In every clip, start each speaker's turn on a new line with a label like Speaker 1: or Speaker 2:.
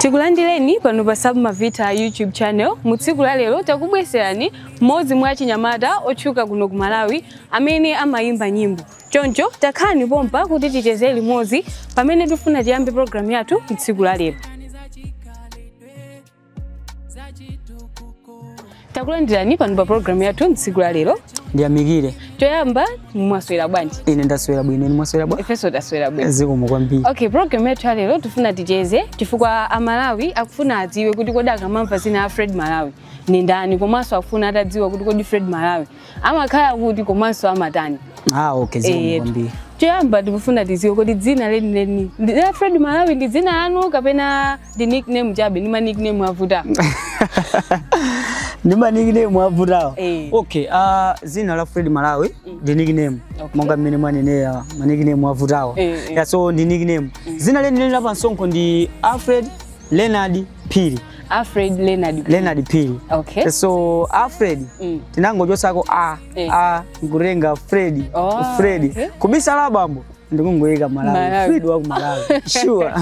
Speaker 1: takulandirani pano pa submavita youtube channel mu tsiku la lero takubweserani mmodzi mwa achinyamata otchuka kuno ku malawi amene amayimba nyimbo choncho takhalani pompa kuti ticheze limodzi pamene tifuna tiyambe programu yathu tsiku la lero takulandirani pano pa programu yathu mtsiku la lero
Speaker 2: ndiyamikire
Speaker 1: choyamba mwaswera bwanji ine ndaswera bwino inu
Speaker 2: mwaswera bwa ifenso taswera bwino zikomo
Speaker 1: kwambiri okay
Speaker 2: programu yathu
Speaker 1: ya lero tifuna ticheze chifukwa amalawi akufuna adziwe kuti kodi akamamva zina la fred malawi ni ndani komanso akufuna atadziwa kuti kodi fred malawi amakhala kuti komanso amatani Ah, okay,
Speaker 2: zikomo Eh, kwambiri. choyamba
Speaker 1: tikufuna tiziwe kodi dzina lenileni ndi- la fred malawi ndi dzina lanu kapena ndi nickname chabe ndi ma nickname avuta
Speaker 2: Ndi ma nickname avutawo. Eh. Okay, ah zina la Fred Malawi ndi nickname. Okay. Monga mmene mwanenera ma nickname avutawo. Eh, eh. Yeah, so ndi nickname. Zina lenileni la pansonkho ndi Alfred Leonard Phiri. Alfred
Speaker 1: Leonard Phiri. Leonard Phiri.
Speaker 2: Okay.
Speaker 1: So
Speaker 2: Alfred mm. tinangochosako a eh. a nkutenga Fred. Oh, Fred. Okay. Kubisa
Speaker 1: la abambo
Speaker 2: ndikungoyika malawi fred wa ku malawi sure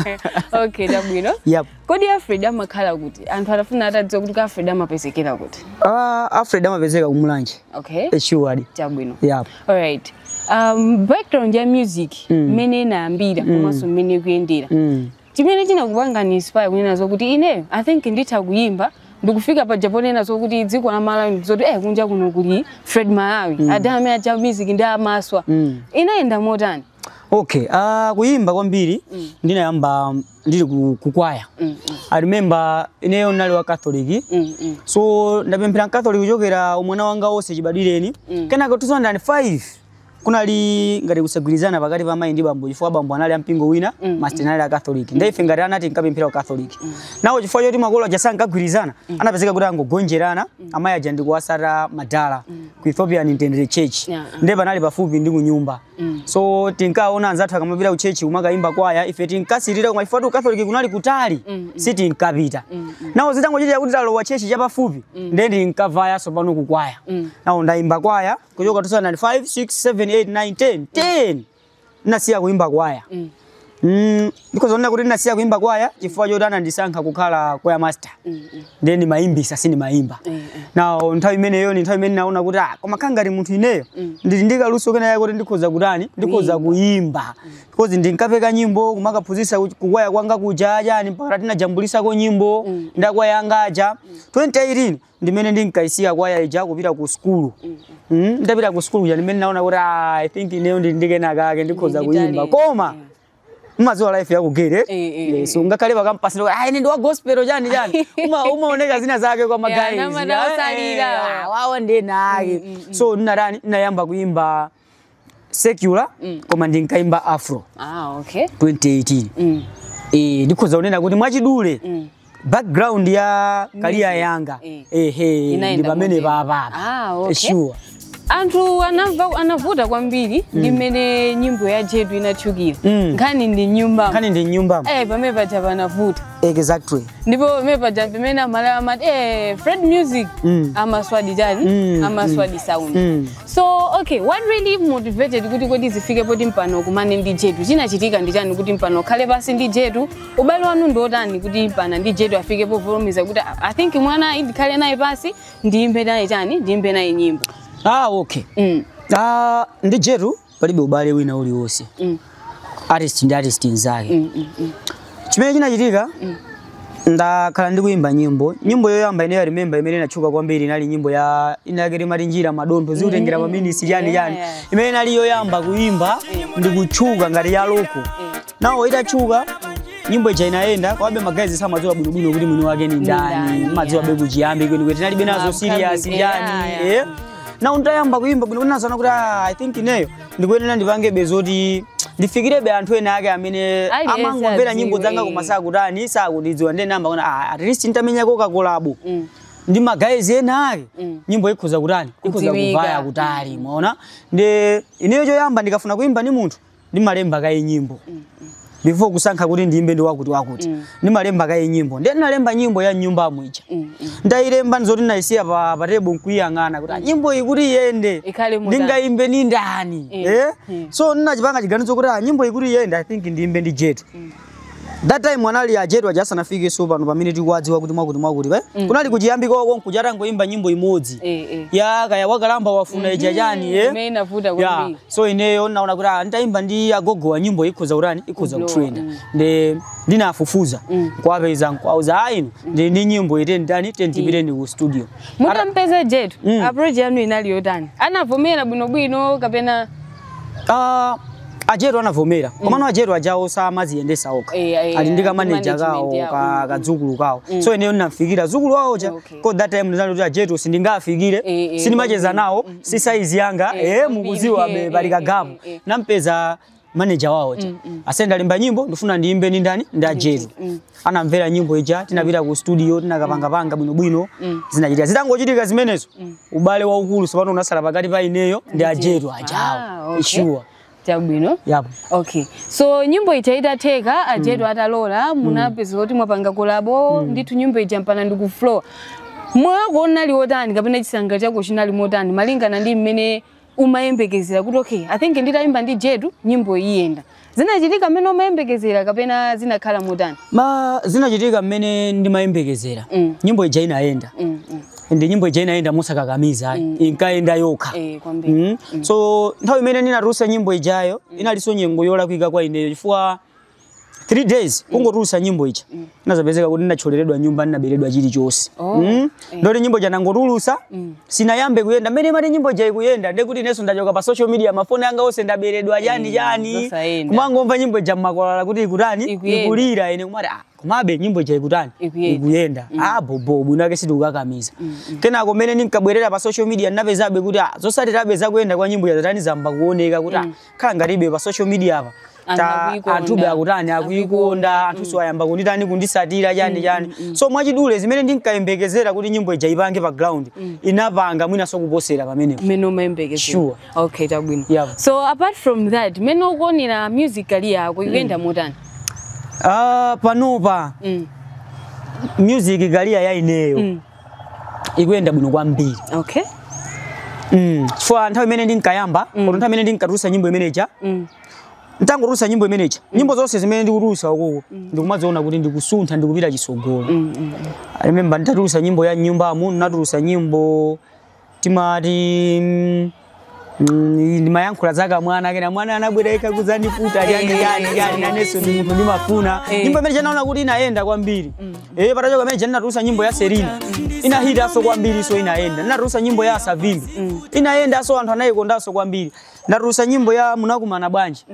Speaker 2: okay
Speaker 1: chabwino yep. kodi
Speaker 2: afred
Speaker 1: amakhala kuti anthu atafuna atadziwa kuti afred amapezekera kuti uh, ah, afred
Speaker 2: amapezeka kumulanje okay eh, sure
Speaker 1: chabwino
Speaker 2: yep. all
Speaker 1: right um, background ya music mm. mmene mm. inayambira mm. komanso mmene ikuyendera mm. Chimene chinakupangani inspire kunena zokuti ineyo I think nditha kuyimba ndikufika paja ponena zokuti dziko la Malawi ndi zoti eh kunja kuno kuli Fred Malawi mm. adala amene aja music ndi amaswa mm. inayenda motani? Okay,
Speaker 2: uh, kuyimba kwambiri mm. ndinayamba ndili ku, ku kwaya mm, mm. I remember ineyo ndinali wa Catholic mm, mm. so ndapemphera Catholic kuchokera umwana wanga wonse chibadwireni mm. kenaka 2005 kunali ngati kusagwirizana pakati pa mayi ndi bambo chifukwa bambo anali a mpingo wina Mm, master anali a catholic ndiye ife ngati ana tinkapemphera ku catholic now chifukwa choti makolo aja ankagwirizana anapezeka kuti angogonjerana amayi aja ndikuwasata madala ku ethiopian intended church Yeah, ah. ndiye panali pafupi ndi kunyumba Mm. so tinkaona anzathu akamapita ku chechi kumakayimba kwaya ife tinkasirira koma chifukwa choti ku catholic kunali kutali Mm, sitinkapita Mm, now zitangochitika kuti talowa chechi chapafupi ndiye ndinkavayaso pano kukwaya Mm. now ndayimba kwaya kuchoka 2005 6 7 8 9 10 10 ndinasiya kuimba kwaya Mm. Mm, because ndikunena kuti ndinasiya kuimba kwaya chifukwa choti anandisankha kukhala kwaya master Mm, mm. ndiye ndimayimbisa sindimayimba Eh, eh. now nthawi imeneyo ni nthawi imene naona kuti ah, koma kukhala ngati munthu ineyo Mm. ndili ndi kaluso kenakake kuti ndikhoza kutani ndikhoza kuyimba because ndinkapeka nyimbo kumakaphunzitsa ku- kukwaya kwanga kuja ujeni mpaka tinajambulisako nyimbo Mm. ndi akwaya anga aja 2018 ndimene ndinkaisiya kwaya ija kupita ku sukulu mm, nditapita ku sukulu kuja ndimene naona kuti ah, i think ineyo ndi ndi kenakake ndikhoza Ndi- ndi kuyimba talent. koma umadziwa life ya ku geri Eh, eh, eh. so ngakhale pakampasi loko ah ine ndi wa gospel chani chani uma umaoneka zina zake kwa magayi namana osalira. wawo ndinake so ndinatani ndinayamba kuyimba secular mm. koma ndinkaimba afro
Speaker 1: ah,
Speaker 2: okay. 2018 mm. e, ndikhoza kunena kuti mwachidule mm background ya career yanga eh. ehe eh, ndi pamene papapa ah, okay. sure
Speaker 1: anthu anamva anavuta kwambiri mm. ndi mmene nyimbo ya jetu inatchukira mm. nkhani ndi m'nyumba nkhani ndi m'nyumba eh
Speaker 2: pamene paja
Speaker 1: panavuta
Speaker 2: exactly ndipo pamene
Speaker 1: paja pamene amalawi amati eh, fred music Mm. amaswadi chani Mm, amaswadi sound Mm. so okay what really motivated kuti kodi zifike poti mpana ukumane ndi jetu chinachitika ndi chani kuti mpana ukhale pasi ndi jetu ubale wanu ndi otani kuti mpana ndi jetu afike povomereza kuti "Ah, i think mwana ndikhale naye pasi ndiyimbe naye chani ndiyimbe naye nyimbo ah okay
Speaker 2: mm. ah ndi jetu palibe ubale wina uliwonse mm. artist ndi artist nzake mm, mm, mm. chimene chinachitika mm. ndakhala ndikuyimba nyimbo nyimbo yoyamba ineyo i remember imene inatchuka kwambiri inali nyimbo ya inayake timati njira madontho zikutengera mm. maminisi chani chani yeah. imene inali yoyamba kuyimba ndikutchuka ngati ya loko mm. now itatchuka nyimbo ija inayenda komabe magayizi samadziwa bwinobwino kuti mwini wake ni ndani ndani, madziwa yeah. be kuchiyambi kwenikweni tinalibe nazo Upcoming, serious yeah, ndani yeah. eh? now ntayamba kuyimba bwino nazaona kuti "Ah, i think ineyo ndikuyenera ndipangebe zoti ndifikirebe anthu ena ake amene Aliyense amangomvera nyimbo adziwe. zanga koma sakutani sakundidziwa ndiye nayamba kuti "Ah, at least ntamenyako kakolabo Mm. ndi magayizi ena ake Mm. nyimbo ikhoza kutani ikhoza Kudziwika. kuvaya kutali mwaona ndi ineyo choyamba ndikafuna kuyimba ndi munthu ndimalemba kaye nyimbo before kusankha kuti ndiyimbe ndi wakuti wakuti ndimalemba kaye nyimbo ndiye ndinalemba nyimbo ya m'nyumba mwija ndayilemba ndizoti ndayisiya pa table nkuyiyang'ana kuti "Ah, nyimbo iyi kuti iyende Ikhale motani?" ndingayimbe ni ndani Eh, eh? eh. so ndinachipanga chiganizo kuti "Ah, nyimbo iyi kuti iyende i think ndiyimbe ndi jet that time anali ajetu aja asanafikeso pano pamene tikuwadziwa kuti mwakuti mwakuti pa mm. kunali kuchiyambi kwawo konkuja atangoimba nyimbo imodzi eh, eh. ya kaya wakalamba wafuna mm -hmm. ija chani eh? imene inavuta yeah.
Speaker 1: so ineyo
Speaker 2: naona kuti ah, nitaimba ndi agogowa nyimbo ikhoza kutani ikhoza kutrenda mm. ndi ndinafufuza mm. kuwapeza nkuwauza ah ineyo ah, mm. ndi ndi nyimbo ite ndani tiyeni tipite ndi ku studio mutampeza jetu
Speaker 1: mm. approach yanu inali yotani anavomera bwinobwino kapena
Speaker 2: Ah, ajetu anavomera komano ajetu ajawo samaziyendesa okha Eh, eh, ali ndi eh, kamaneja management kawo yawo. ka- Mm, kadzukulu kawo Mm. so ineyo ndinafikira mdzukulu wawo uja Okay. coz that time ndinali kuti ajetu sindingafikire Eh, eh, sindimacheza kwambiri. nawo Mm, mm, si saizi yanga Eh, eh kwambiri. mukuziwa Eh, be pali eh, kagap eh, eh, eh. nampeza maneja wawo uja Mm, mm. ase ndalemba nyimbo ndifuna ndiyimbe ndi ndani ndi ajetu Mm. anamvera nyimbo ija tinapita ku studio tinakapangapanga bwinobwino Mm. zinachitika zitangochitika zimenezo Mm. ubale waukulu sopano unatsala pakati pa ineyo ndi ajetu ajawo Ah, okay. sure chabwino
Speaker 1: yapo
Speaker 2: okay
Speaker 1: so nyimbo ija itatheka ajetu atalola munapeza kuti mwapanga kolabo ndithu nyimbo ija mpaka ndi ku flow moyo wako unali wotani kapena chisangalalo chako chinali motani malingana ndi mmene umayembekezera kuti okay i think nditayimba ndi jetu nyimbo iyenda zinachitika mmene umayembekezera kapena zinakhala motani mm zinachitika
Speaker 2: mmene ndimayembekezera Mm. nyimbo ija inayenda Mm, mm. and nyimbo ija inayenda mosakakamiza ayi inkayenda yokha Eh, kwambiri Mm. so nthawi imene ndinatulutsa nyimbo ijayo inalinso nyengo yolakwika kwa ineyo chifukwa 3 days kungotulutsa nyimbo ija inazapezeka kuti ndinathyoleredwa nyumba ndinaberedwa chilichonse Oh, Mm. ndoti nyimbo ija nangotulutsa sinayambe kuyenda mmene imati nyimbo ija ikuyenda ndekuti inenso ndachoka pa social media mafoni anga onse ndaberedwa yani Eh, yani zosayenda. kumangomva nyimbo ija mmakwalala kuti ikutani Ikuyenda. ikulira ine kumati ah, komabe nyimbo ija ikutani Ikuyenda. ikuyenda ah bobo bwino ake sitikukakamiza kenako mmene ndinkabwerera pa social media ndinapezabe kuti ah, zotsatirabe zakuyenda kwa nyimbo ija zatani zayamba kuoneka kuti ah, khala ngati ndilibe pa social media apa Anthu ta- akuikonda. anthube akutani akuikonda anthu si ayamba kunditani kunditsatira chani chani so mwachidule zimene ndinkayembekezera kuti nyimbo ija ipange pa ground inapanga mwinanso kuposera pamenepo mmene umayembekezera
Speaker 1: Sure. okay
Speaker 2: chabwino
Speaker 1: Yeah. so apart from that mmene ukuonera music career yako ikuyenda motani Ah, panopa
Speaker 2: mm. music career ya ineyo ikuyenda bwino kwambiri
Speaker 1: okay
Speaker 2: mm. chifukwa nthawi imene ndinkayamba mm. nthawi imene ndinkatulutsa nyimbo imeneja mm. ntangotulutsa nyimbo imeneja mm. nyimbo zonse zimene ndikutulutsa ukuku mm. ndikumaziona kuti ndikusuntha ndikupita chitsogolo mm, mm, mm. I remember nditatulutsa nyimbo ya mnyumbamu natulutsa nyimbo timati mm, mm, ndimayankhula za kamwana kena mwana anabwereka kuzandiputa chani Eh, chani eh, chani eh, inenso ndi munthu ndimafuna Eh. nyimbo imeneija ndinaona kuti inayenda kwambiri eh patachoka imeneija ndinatulutsa nyimbo ya Selena inahitanso kwambiri so inayenda ndinatulutsa nyimbo ya Savimbi inayendanso anthu anayikondanso kwambiri ndatulutsa nyimbo ya munakumana bwanji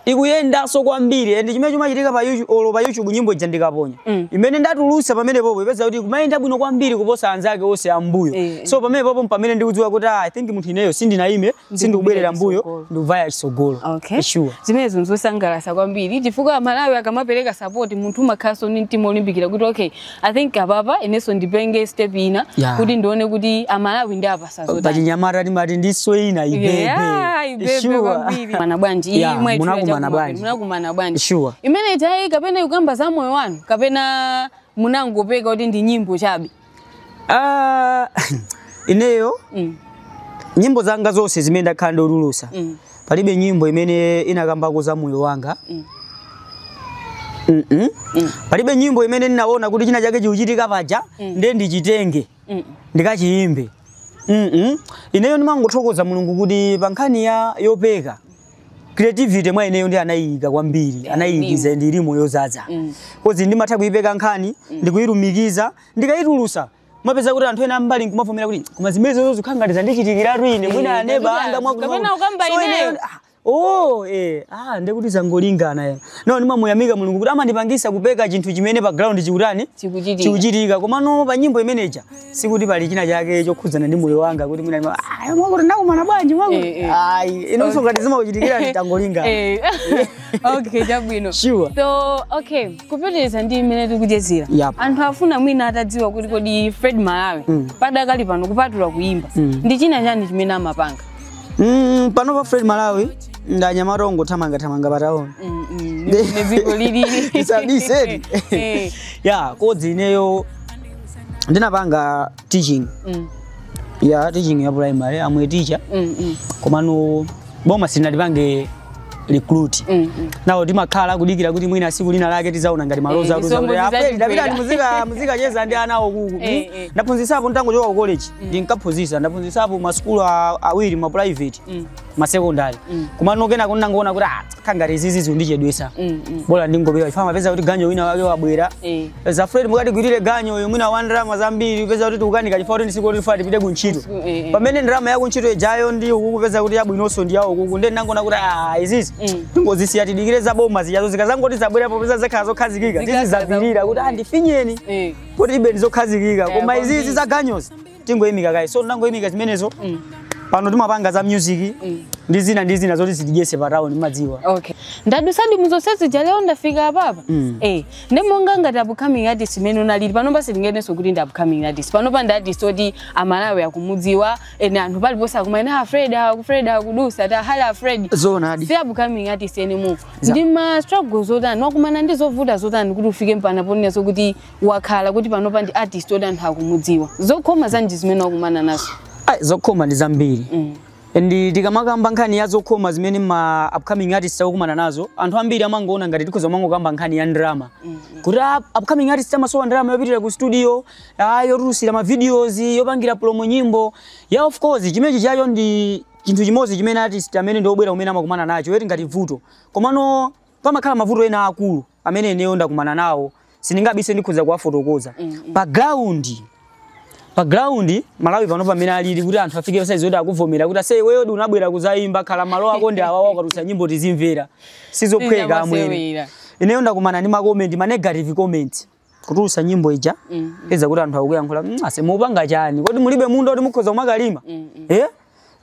Speaker 2: ikuyendanso kwambiri and chimene chimachitika pa YouTube olo pa YouTube nyimbo ija ndikaponya Mm. imene ndatulutsa pamenepopo ipeza kuti kumayenda bwino kwambiri kuposa anzake onse ambuyo Eh. so pamenepopo mpamene ndikudziwa kuti ah, I think munthu ineyo sindinayime sindikubwerera mmbuyo chitsogolo. ndikuvaya chitsogolo okay sure zimenezo
Speaker 1: nzosangalatsa kwambiri chifukwa amalawi akamapereka sapoti munthu umakhalanso ndi mtima olimbikira kuti okay I think apapa inenso ndipange step ina Yeah. kuti ndione kuti amalawi ndiwapatsa zotani. pachinyamata
Speaker 2: timati ndi size ina ibebe Yeah, ibebe Sure.
Speaker 1: kwambiri. Mana bwanji iyi Yeah, mwaitchula munakumana chakumwa, bwanji? munakumana bwanji Sure. imene
Speaker 2: ijayi
Speaker 1: kapena ikukamba za moyo wanu kapena munangopeka kuti ndi nyimbo chabe Ah,
Speaker 2: ineyo Mm, nyimbo zanga zonse zimene ndakhala ndikutulutsa mm, palibe nyimbo imene inakambako za moyo wanga mm. Mm -mm. Mm. palibe nyimbo imene ndinaona kuti china chake chikuchitika paja mm. ndiye ndichitenge mm. ndikachiyimbe mm -mm. ineyo ndimangothokoza mulungu kuti pa nkhani yopeka creativity mwa ineyo ndi anayiyika kwambiri yeah, anayiyikiza ndi ilimo yozaza mm. kozi ndimatha kuyipeka nkhani mm. nkuyilumikiza ndikayitulusa umapeza kuti anthu ena ambali nkumavomera kuti koma zimenezozo zikukhala ngati zandichitikiratu ine Eh, mwina aneba kapena- anga mwakuti- kapena ukamba So
Speaker 1: ineyo. ineyo- ah, oh eh ah ndekuti
Speaker 2: zangolingana ya no ndimamuyamika mulungu kuti amandipangisa kupeka chinthu chimene pa ground chikutani Chikuchitika. chikuchitika komano pa nyimbo imeneja sikuti pali china chake chokhudzana ndi moyo wanga kuti mwina ndima- ah mwakuti ndakumana bwanji Eh, mwakuti eh. ayi inonso ngati zimakuchitikira nditangolingana Eh.
Speaker 1: okay chabwino sure
Speaker 2: so
Speaker 1: okay kupitiriza ndi mmene tikuchezera Yap. anthu afuna mwina atadziwa kuti kodi fred malawi mm. padakali pano kupatula kuimba Mm. ndi china chani chimene amapanga mm,
Speaker 2: panopa fred malawi ndi anyamata ongothamangathamanga pa town Mm, mm, ndi mmene
Speaker 1: dziko lilili
Speaker 2: Isabiseni. Eh, ya kozi ineyo ndinapanga teaching mm, ya teaching ya primary am a teacher mm, mm. komano boma silinatipange recruit mm -hmm. nawo timakhala tikudikira kuti mwina siku lina lake tizaona ngati maloza eh, atiuza kuti apeli ndapita ndi muzika muzikacheza ndi ana awo uku eh, hmm? eh. ndaphunzisapo nditangochoka ku college mm. ndinkaphunzisa ndaphunzisapo ma school awiri ma private mm. ma secondary mm. komano kenako ndinangoona kuti ah Kukhala ngati izizi zikundichedwesa. Mm, mm. Bola ndingobewa. Chifukwa umapeza kuti ganyu wina wake wabwera. Eh. Peza Fred mukatigwirire ganyu uyo mwina wa ndalama zambiri upeza kuti tikukanika chifukwa kuti ndi siku loti ufunika upite kuntchito. Siku- eh, eh. Pamene ndalama ya kuntchito ijayo ndi ukukupeza kuti yabwinonso ndi ya ukuku. Ndiye ndinangoona kuti ah izizi. Mm. Tingozisiya tidikire za boma zijazo zikazangoti zabwera popeza zakhala zokhazikika. Zikakhala Tizizapirira kuti zakuti. andifinyeni. Eh. Kuti bebe ndizokhazikika. Eh, Koma izizi kwambiri. za ganyuzi. tingoyimika kaye so tinangoyimika zimenezo mm. pano timapanga za music mm. ndi zina ndi zina zoti zitidyese pa town mumadziwa okay mwadusadi
Speaker 1: muzonse zija lero mwafika apapa mm. eh ndi monga ngati upcoming artist mmene unalili pano basi sitinganeneso kuti ndi upcoming artist panopa ndi artist oti amalawi akumudziwa inde anthu paliponse akumanena Fred aku Fred akudusa tamuona Fred zoonadi si upcoming
Speaker 2: artist
Speaker 1: anymore ndi ma struggles otani wakumana ndi zovuta zotani kuti ufike mpakana ponena zokuti wakhala kuti panopa ndi artist oti anthu akumudziwa zokhoma zanji zimene wakumana nazo Ai, zokhoma ndi
Speaker 2: zambiri mm. ndi tikamakamba nkhani ya zokhoma zimene ma upcoming artists akukumana nazo anthu ambiri amangoona ngati tikhoza kumangokamba nkhani ya ndrama kuti ah, upcoming artists amasowa ndrama yopitira ku studio ah, yotulusira ma videos yopangira promo nyimbo ya of course chimenechi chacho ndi chinthu chimodzi chimene artist amene ndi obwera kumene amakumana nacho eti ngati vuto komano pamakhala mavuto ena akulu amene ineyo ndakumana nawo sindingabise ndikhoza kuwafotokoza mm, mm. pa ground pa ground malawi pano pamene alili kuti anthu afike pasaizi kuti akuvomera kuti ase iweyo di unabwera kuzayimba khala mmalo ako ndi awawa ukatulutsa nyimbo tizimvera sizophweka amwene Si zamasewera. ineyo ndakumana ndi makomenti ma negative comment kutulusa nyimbo ija mm, mm. upeza kuti anthu akuyankhula mm, ase mupanga chani kodi mulibe munda kuti mukhoza kumakalima mm, mm. eh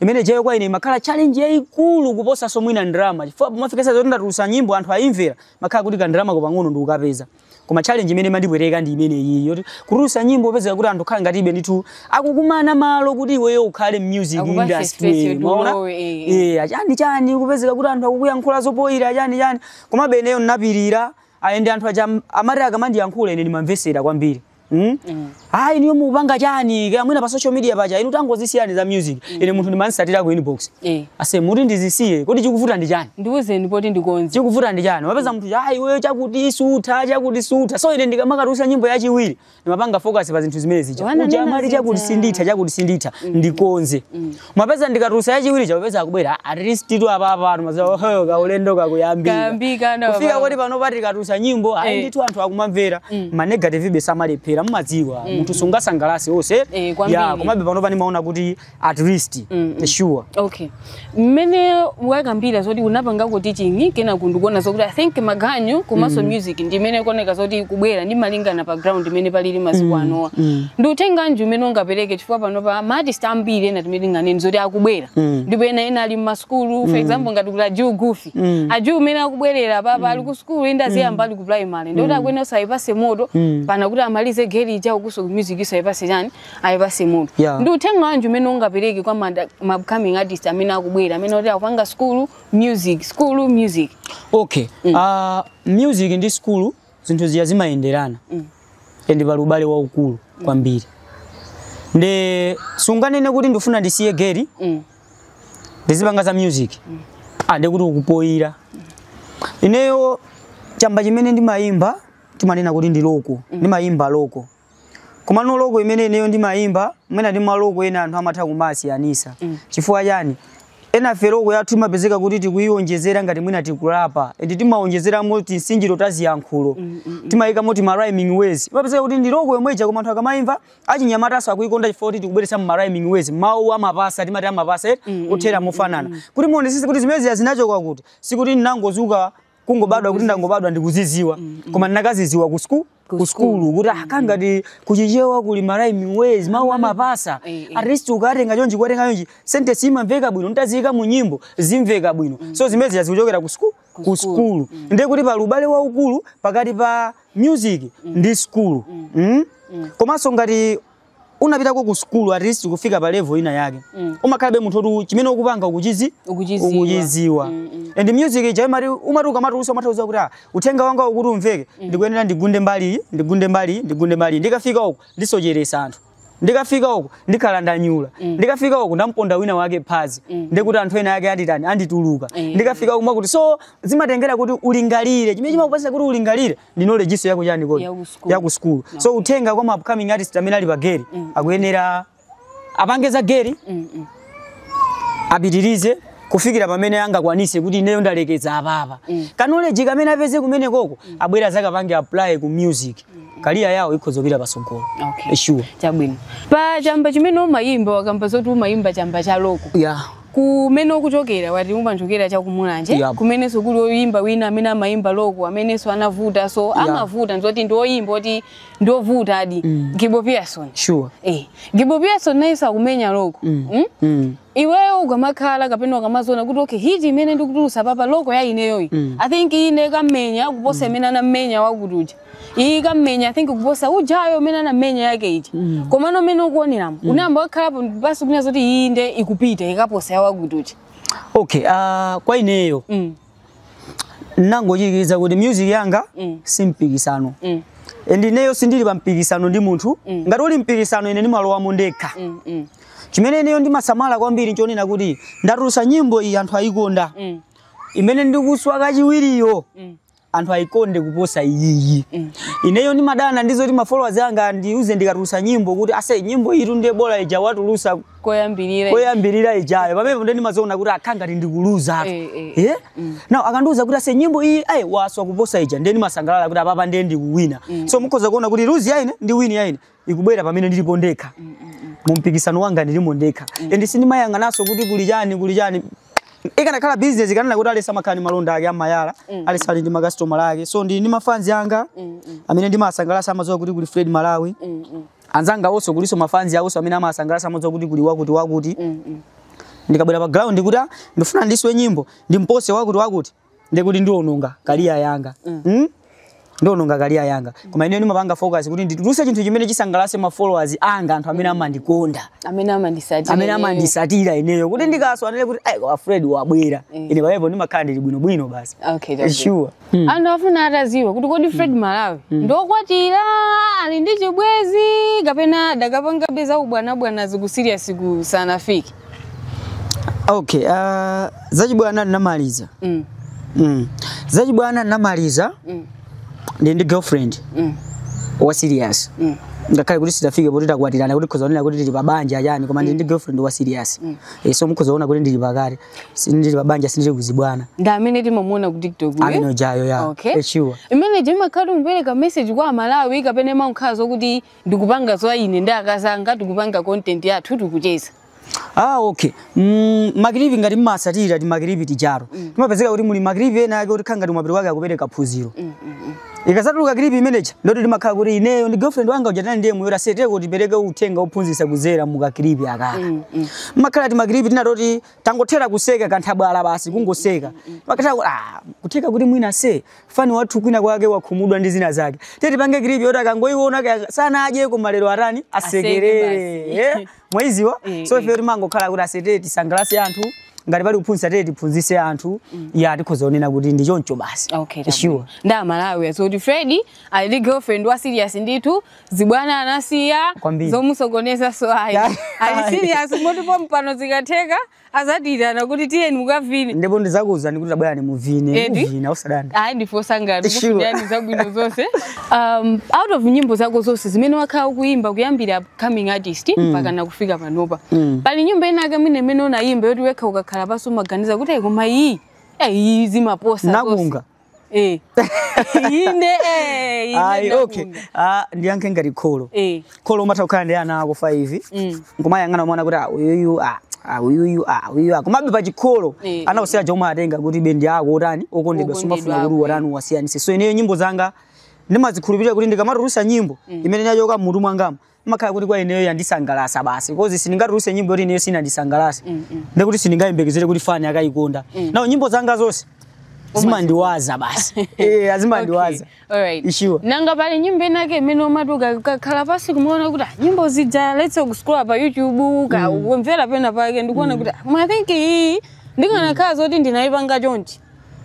Speaker 2: imene jeyo kwa ine makhala challenge yaikulu kuposa so mwina ndrama chifukwa mafika size yoti ndatulusa nyimbo anthu ayimvera makhala kuti ka ndrama kopang'ono ndikukapeza koma challenge imene mandipweteka ndi imene iyi yoti kutulusa nyimbo pezeka kuti anthu khala ngati ibe ndithu akukumana malo kuti iweyo ukhale music Akupatse space industry yoti umaona ulowe, eh, eh. eh achani chani kupezeka kuti anthu akukuyankhula zopoyira achani chani komabe ineyo ndinapirira ayi nde anthu aja am- amati akamandiyankhula ine ndimamvesera kwambiri Mm? ayi inuyo mupanga chani kaya mwina pa social media paja inu tangozisiyani za music ine munthu ndimamsatira ku inbox Eh. ase muti ndizisiye kodi chikuvuta ndi chani ndiwuzeni poti
Speaker 1: ndikonze chikuvuta ndi chani mupeza
Speaker 2: munthu ayi iweyo chakuti sutha chakuti sutha so ine ndikamakatusa nyimbo yachiwiri ndimapanga focus pa zinthu zimene zija Wananena uja amati zija. chakuti sinditha chakuti sinditha ndikonze mupeza ndikatulusa yachiwiri chakupeza akubwera at least titu apapa anu maza oho kaulendo kakuyambika Kayambika, ndo kufika apapa. kuti pano pati katulusa nyimbo Eh. ayi ndithu anthu akumamvera ma negative ibe samalephera mumadziwa munthu sungasangalase onse Eh, kwambiri. ya komabe panopa ndimaona kuti at least Mm, mm. sure
Speaker 1: okay mmene wakambira zoti unapangako teaching kena nkudzaona zokuti i think maganyu komanso music ndi imene kuoneka zoti kubwera ndi malingana pa ground imene palili masiku anowa mm. ndi uthenga wanji umene ungapereke chifukwa panopa maartist ambiri ena amene tinganene zoti akubwera Mm. ndipo ena ena ali mmasukulu for example ngati kuti ajuu gufi Mm. ajuu umene akubwera apapa ali ku sukulu ande aziyamba ali ku primary ndikuti akwina akuyipatsa moto pena kuti amalize geri ija ukuso music akuyipatsa chani akuyipatsa moto Yeah. ndi uthenga wanji umene ungapereke kwa mada- ma upcoming artist amene akubwera amene oti akupanga skulu music skulu music okay
Speaker 2: Ah, music ndi skulu zinthu zija zimayenderana and pali ubale waukulu kwambiri nde sunganene kuti ndifuna ndisiye geri Mm. ndizipanga za music ande kuti ukupoyira ineyo chamba chimene ndimayimba timanena kuti ndi loko ndimayimba loko Komano loko imene ineyo ndimayimba mwina ndi maloko ena anthu amatha kumasiyanisa mm. chifukwa chani enafe loko yathu imapezeka kuti tikuyiwonjezera ngati mwina tikulapa and timawonjezeramo tinsinjiro ta ziyankhulo mm, mm, mm. timayikamo ti marhyming ways imapezeka kuti ndi loko yomwe ija koma anthu akamayimva achinyamataso akuyikonda chifukwa kuti tikubweretsamo marhyming ways mawu amapasa timati amapasa mm, mm, othera mm, mofanana mm, mm. kuti muonesese kuti zimezi zinachoka kuti sikuti ndinangozuka kungobadwa kuti ndangobadwa ndikuziziwa koma ndinakaziziwa ku sku ku skulu kuti akangati kuchichewa kuli ma rhyming words mawu amapasa Eh, eh. at least ukatenga chonchi kuwatenga chonchi sentence imamveka bwino utaziyika mu nyimbo zimveka bwino so zimezi zikuchokera ku sku ku skulu nde kuti pali ubale waukulu pakati pa music ndi skulu Mm? komanso ngati unapitako ku sukulu at least kufika pa level ina yake Mm. umakhalabe munthu oti chimene ukupanga ukuchizi Ukuchidziwa. ukuchidziwa Mm, mm. and music ija imati umati ukamatulusa umadziuza kuti ah, uthenga wanga kuti umveke ndikuyenera ndigunde mbali iyi, ndigunde mbali iyi, ndigunde mbali iyi. ndikafika uku ndisocheresa anthu ndikafika uku ndikhala ndanyula ndikafika uku ndamponda wina wake phazi ndikuti anthu ena ake anditani andituluka Eh. ndikafika uku wakuti so zimatengera kuti ulingalire chimene chimakupasa kuti ulingalire ndi knowledge yako ya chani kodi Ya ku school. ya ku school so uthenga kwa ma upcoming artist amene ali pa geri akuyenera apange za geri Mm, mm. apitirize kufikira pamene angakwanise kuti ineyo ndalekeza apapa mm. ka knowledge kamene apeze kumene koko mm. abwere azakapange apply ku music mm. career yawo ikhoza kupita pasogolo Okay. sure chabwino pa
Speaker 1: chamba chimene umayimba wakamba zoti umayimba chamba cha loko yeah. Kumene ukuchokera wati umachokera cha ku Mulanje Yap. kumenenso kuli oyimba wina amene amayimba loko amenenso anavuta so amavuta nzoti ndi oyimba oti ndi ovutadi Gibo Pearson. sure
Speaker 2: Eh, Gibo
Speaker 1: Pearson nayenso akumenya loko. Mm? mm. Iweyo ukamakhala kapena ukamaziona kuti okay hiti imene ndikutulusa apapa loko ya ineyoyi. I think ikamenya kuposa imene anamenya wakutuja. iyi ikamenya i think kuposa ujayo imene anamenya yake hiti mm. komano umene ukuoneramo mm. unayamba wakhalapo basi kunena zoti iyi nde ikupita ikaposa ya wakuti okay uh,
Speaker 2: kwa ineyo mm. ndingotsindikiza kuti music yanga mm. si mpikisano mm. and ineyo sindili pa mpikisano ndi munthu mm. ngati uli mpikisano ine ndimalowamo ndekha mm, mm. chimene ineyo ndimasamala kwambiri nchonena kuti ndatulusa nyimbo iyi anthu ayikonda mm. imene ndikutulusa kachiwiriyo mm. anthu ayikonde kuposa iyiyi mm. ineyo ndimadana ndizoti ma followers anga andiuze ndikatulusa nyimbo kuti ase nyimbo iyitu ndiye bola ija watulusa koyambirira koyambirira ijayo pamenepo nde ndimaziona kuti ah kukhala ngati ndikuluza apa eh, eh, eh? Mm. now akandiuza kuti ase nyimbo iyi ayi waswa kuposa ija ndiye ndimasangalala kuti apapa ndiye ndikuwina mm. so mukhoza kuona kuti lose yaine ndi win yaine ikubwera pamene ndilipo ndekha mu mpikisano wanga ndilimo ndekha and sindimayang'ananso kuti kuli chani kuli chani ikanakhala business ndikananena kuti aliyense amakhala ndi malonda ake amayala aliyense ali ndi makasitomala ake so ndili ndi mafanzi anga amene ndimasangalasa amadziwa kuti kuli Fred Malawi anzanga onso kulinso mafanzi awonso amene amasangalasa amadziwa kuti kuli wakuti wakuti ndikabwera pa ground kuti ah, ndifuna ndiswe nyimbo ndimpose wakuti wakuti ndi kuti ndiononga career yanga mm? ndiononga career yanga koma ineyo ndimapanga focus kuti ndituluse chinthu chimene chisangalatse ma followers anga anthu amene amandikonda amene amandisatira amene ineyo. amandisatira ineyo kuti ndikaswa anene kuti ah fred wabwera Mm. ine pamenepo ndimakhala ndili bwinobwino basi okay chabwino.
Speaker 1: sure Mm.
Speaker 2: anthu
Speaker 1: afuna atadziwa kuti kodi fred malawi ndokwatira ali ndi chibwenzi kapena adakapangabe za ubwanabwana zi ku serious siku sanafike
Speaker 2: Okay, uh, zachibwana ndinamaliza. Mm. Mm. Zachibwana ndinamaliza. Mm. Ndili ndi girlfriend. Mm. Wa serious. Mm. ngakhale kuti sitinafike poti takwatirana kuti mukhoza kuonera kuti ndili pabanja yani koma ndili ndi girlfriend wa serious mm. e, so mukhoza kuona kuti ndili pakati Sindili pabanja sindili kuzibwana ndi amene timamuona
Speaker 1: ku tiktok uyu. amene ujayo ya Okay.
Speaker 2: e, sure imene ija imakhala
Speaker 1: ukupereka message kwa amalawi kapena imakhala zokuti ndikupanga za ine ndi akazi anga tikupanga content yathu tikucheza Ah,
Speaker 2: okay. Mm, ma clip ngati mumatsatira ti ma clip tijato. Mm. Zimapezeka kuti muli ma clip ena yake oti amakhala ngati mapiri wake akupereka phunziro. Mm, mm, mm. Ikazatuluka clip imeneja ndoti timakhala kuti ineyo ndi girlfriend wanga ujatana ndiye muiwona seteko kuti tipereke uthenga ophunzitsa kudzera mu ka clip akaka. Mm, mm. Makhala ti ma clip tina toti tangothera kuseka kanthabwala basi kungoseka. Makhala kuti ah kutheka kuti mwina se Fan wathu kwina kwake wakhumudwa ndi zina zake. Tiye tipange clip yoti akangoiona kaya sanadye koma lero atani asekerere. basi. Eh, Mwaidziwa? Eh, So eh. ife timangokhala kuti asete tisangalatse anthu ngati pali kuphunzitsa tiye tiphunzitse anthu ya tikhoza kunena kuti ndi choncho basi. Okay, Sure. chabwino. ndiye
Speaker 1: amalawi adziwe zoti fred ali ndi girlfriend wa serious ndithu zibwana anasiya Kwambiri. zomusokoneza so ayi Yeah. ali serious moti pompano zikatheka adzatiitana kuti tiyeni mukavine ndipo ndidzakuuzani
Speaker 2: kuti tabwerani muvine Eti? muvina osadandaula ayi ndife osangala Sure.
Speaker 1: ndikufunirani zabwino zonse um, out of nyimbo zako zonse zimene wakhala ukuyimba kuyambira coming artist mpaka kufika panopa Mm. pali nyimbo inake mwina imene unayimba yoti wekha ukakhala pansi umaganiza kuti ayi koma iyi eh, iyi zimaposa zonse." nzovuta
Speaker 2: Eh.
Speaker 1: ine eh, ine ayi
Speaker 2: okay ndamva. Ah, ndiyankhe ngati kholo Eh. kholo umatha kukhala ndi ana ako 5 Mm. nkumayang'ana umaona kuti ah, uyuyu ah, ah, uyuyu ah, uyuyu ah. komabe pa chikholo Eh, ana usiya chomwe watenga kuti iwe ndi ako otani okondedwa sumafuna Okondedwa kuti ako, watani uwasiyanise so ineyo nyimbo zanga ndimazikhulupirira kuti ndikamatulusa nyimbo imene yachoka mmutu mwangamo imakhala kuti kwa ineyo yandisangalatsa basi coz sindingatuluse nyimbo yoti ineyo sinandisangalatse Mm, mm. ndekuti sindingayembekezere kuti fan akayikonda Mm. now nyimbo zanga zonse zimandiwaza basi Eh, zimandiwaza Okay, alright.
Speaker 1: Sure. nanga
Speaker 2: pali nyimbo
Speaker 1: inake imene umati ukakhala pansi kumaona kuti ah, nyimbo zija let's kuscrolla pa youtube kukamvera pena pake n'kuona kuti ah, koma i think iyi ndikanakhala zoti ndinayipanga chonchi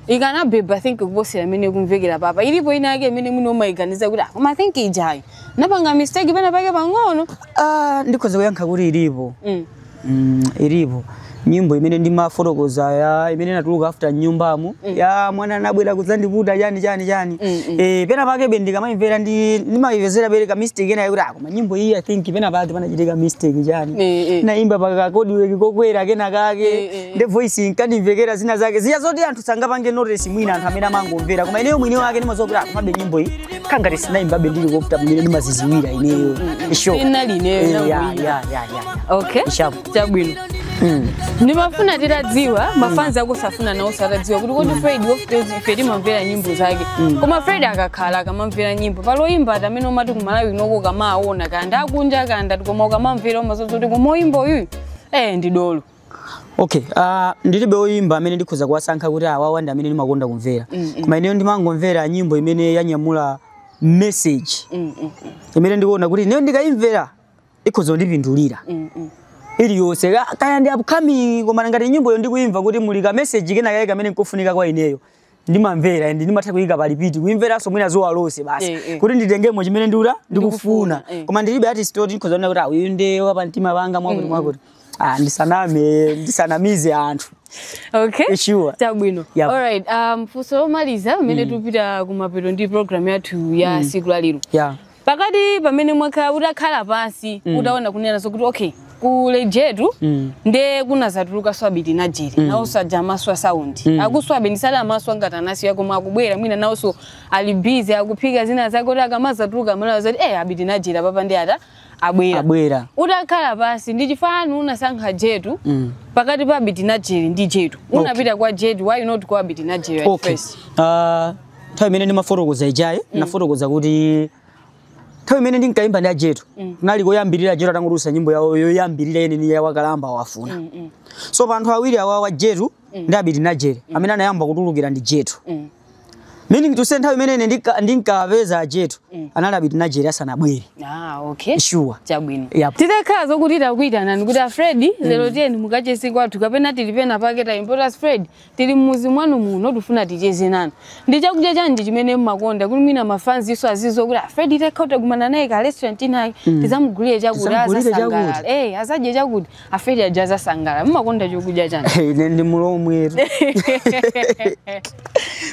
Speaker 1: ikanabeba i think kuposera imene ikumvekera apapa ilipo ina yake imene mwina umayiganiza kuti "Ah, koma i think ijayo napanga mistake pena pake pang'ono Ah, ndikhoza
Speaker 2: kuyankha kuti ilipo mm. mm, ilipo nyimbo imene ndimafotokoza ya imene inatuluka after nyumbamo ya mwana anabwera kudzandiputa chani chani chani Mm, mm. eh pena pakebe ndikamayimvera ndi ndimayimvetsera pere ka mistake ena yakuti ah koma nyimbo iyi i think pena pake panachitika mistake chani Eh, eh. naimba pakakodiweki kokwera kena kake Eh, eh. nde voice inkandimvekera zina zake zija zoti anthu sangapange notice mwina anthu amene amangomvera koma ineyo mwini wake ndimaziwa kuti ah komabe nyimbo iyi kangati sinayimbabe ndili comfortable mmene ndimaziziwira ineyo sure Inali ineyo, Eh, inali ya, ineyo.
Speaker 1: ya, ya,
Speaker 2: ya. okay
Speaker 1: Ishapu. chabwino Mm. ndimafuna titadziwa mafanzi akonso afuna nawonso atadziwa kuti kodi fred of course ife timamvera nyimbo zake koma fred akakhala akamamvera nyimbo pali oyimba ati amene umati kumalawi kunoko kamaawona kanda akunja kanda koma ukamamvera umaziwa kuti koma oyimba uyu eh ndi dolo Okay,
Speaker 2: uh, ndilibe oyimba amene ndikhoza kuwasankha kuti awawa ndi amene ndimakonda kumvera. Mm, mm. Koma ineyo ndimangomvera nyimbo imene yanyamula message. Mm, mm, Imene ndikuona kuti ineyo ndikayimvera ikhoza kundipindulira. mm, mm. Iliyonse Ka- kaya ndi upcoming koma ngati nyimboyo ndikuimva kuti muli ka message kena kake kamene nkofunika kwa ineyo. ndimamvera and ndimatha kuyika pa repeat kuimveranso mwina zuwa lonse basi Eh, eh. kuti nditengemo chimene ndikuta ndikufuna Ndikufuna, eh. koma ndilibe artist oti ndikhoza kunena kuti ah, uyu nde wa pamtima panga mwakuti mwakuti ah, ndisaname ndisanamize anthu
Speaker 1: okay Sure.
Speaker 2: chabwino Yep.
Speaker 1: alright
Speaker 2: um, funso
Speaker 1: lomaliza mmene tikupita kumapeto ndi program yathu ya siku la lero yeah.
Speaker 2: pakati
Speaker 1: pamene mwakhala utakhala pansi Mm. utaona kunena zokuti okay kuli jetu Mm. nde kunazatulukanso abiti najere Mm. nawonso aja amaso asaundi Mm. akusowabe ndisali amasowa ngati anasiya koma akubwera mwina nawonso ali busy akuphika zina zake kuti akamazatuluka amalawi azati eh abiti najere apapa ndi ata abwera abwera utakhala pansi ndi chifukwa chani unasankha jetu Mm. pakati pa abiti najere ndi jetu Okay. unapita kwa jetu why not kwa abiti najere at okay first Ah,
Speaker 2: nthawi imene ndimafotokoza ijayi nafotokoza kuti nthawi imene ndinkaimba ndi ajetu kunali koyambirira ajetu atangotulutsa nyimbo yawo yoyambirira yeneni ya wakalamba wafuna so pa anthu awiri awawa jetu ndi abiti najere amene anayamba kutulukira ndi jetu meaning to say nthawi imene ine ndinka- ndinkapeza ajetu anali abiti najere asanabwere Ah, okay.
Speaker 1: sure Chabwino.
Speaker 2: Yep. Titakhala
Speaker 1: zokuti takuitanani kuti a Fred lero tiyeni mukacheze kwathu kapena tili pena pake tayimba kuti a Fred Tili mmuzi mwanu muno tifuna ticheze nanu. Ndi chakudya chanji chimene mmakonda kuti mwina ma fans nso aziziwa kuti a Fred titakhala takumana naye ka restaurant inayake mm. tizamugulire chakuti Tizamugulire azasangalala. chakuti. Eh azadye chakuti a Fred aja azasangalala. Mmakonda chokudya chanji. ine ndi
Speaker 2: mulomwetu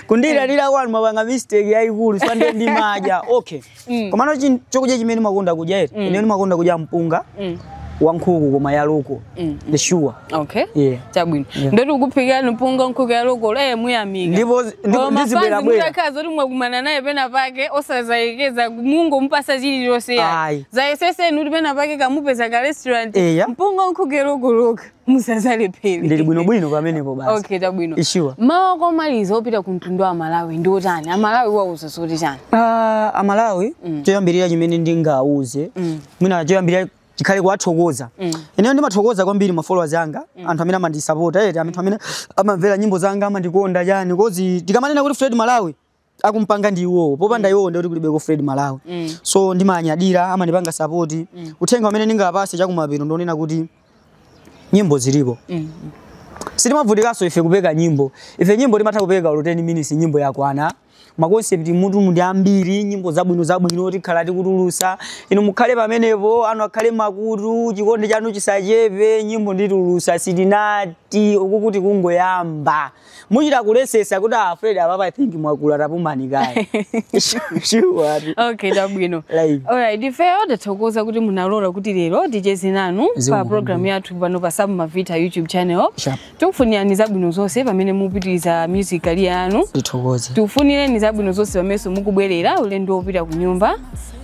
Speaker 2: kundilandira kwanu mwapanga mistake yayikulu sande ndimadya okay Mm. komano chin- chokudya chimene makonda kudya eti Mm. ine ndimakonda kudya mpunga Mm. wankhuku koma ya loko Mm. the sure okay yeah
Speaker 1: chabwino
Speaker 2: Yeah. ndiye
Speaker 1: kuti akuphikirani mpunga nkhuku ya loko eh muyamika ndipo
Speaker 2: ndipo ndizibwera bwera mudzakhala zoti
Speaker 1: mwakumana naye pena pake osazayekeza mungompatsa chilichonse Ayi. dzayesetseni kuti pena pake kamupeza ka restaurant Eya. mpunga nkhuku ya loko lokha musadzalephere ndili bwinobwino
Speaker 2: pamenepo basi okay chabwino
Speaker 1: sure
Speaker 2: mawu
Speaker 1: omaliza opita ku mtundu wa malawi ndi otani amalawi muwauza zoti chani Ah, amalawi
Speaker 2: choyambirira chimene ndingawauze mwina choyambirira chikhale kuwathokoza ineyo ndimathokoza kwambiri ma followers anga anthu amene amandisapota eti anthu amene amamvera nyimbo zanga amandikonda chani coz tikamanena kuti fred malawi akumpanga ndi iwowo popanda iwowo ndiye kuti kulibeko fred malawi Mm. so ndimanyadira amandipanga support uthenga umene ndingapatse chakumapeto ndi wonena kuti nyimbo zilipo Mm. sitimavutikanso ife kupeka nyimbo ife nyimbo timatha kupeka olo 10 minutes nyimbo yakwana ma concept mmutu ndi ambiri nyimbo zabwino zabwino tikhala tikutulutsa inu mukhale pamenepo anu akhale makutu chikondi chanu chisachepe nyimbo nditulutsa sitinati uku kuti kungoyamba muchita kuletsetsa kuti ah, fred apapa i think mwakula tapumani kaye sure ati. okay
Speaker 1: chabwino Like. alright ifeyo tathokoza kuti munalola kuti lero ticheze nanu Zikomo pa programu yathu pano pa Sam Mavita youtube channel Sure. tikufunirani zabwino zonse pamene mupitiriza music career yanu tithokoze tikufunireni zabwino zonse pamenenso mukubwerera ulendo wopita ku nyumba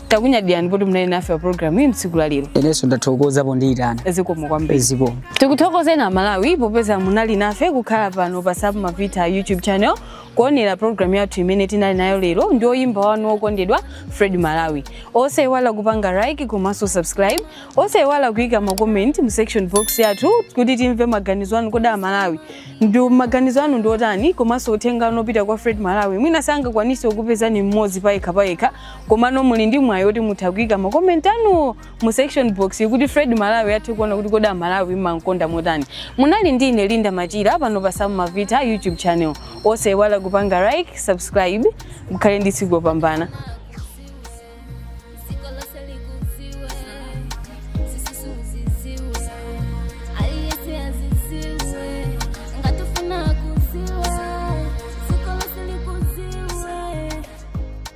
Speaker 1: takunyadirani poti munali nafe pa programu iyi mtsiku la lero inenso
Speaker 2: ndathokoza pondiyitana zikomo
Speaker 1: kwambiri zikomo tikuthokozeni amalawi popeza munali nafe kukhala pano pa Sam Mavita youtube channel kuonera programu yathu imene tinali nayo lero ndi oyimba wanu wokondedwa fred malawi osaiwala kupanga like komanso subscribe osaiwala kuika ma comment mu section box yathu kuti timve maganizo anu kodi amalawi ndi maganizo anu ndi otani komanso uthenga wanu opita kwa fred malawi mwina sangakwanise kupezani mmodzi payekha payekha komano muli ndi mwayi oti mutha kuyika ma comment anuwo mu section box kuti fred malawi athe kuona kuti kodi amalawi mumamkonda motani munali ndi ine linda machira pano pa sam mavita youtube channel osaiwala kupanga like subscribe mukhale ndi tsiku lopambana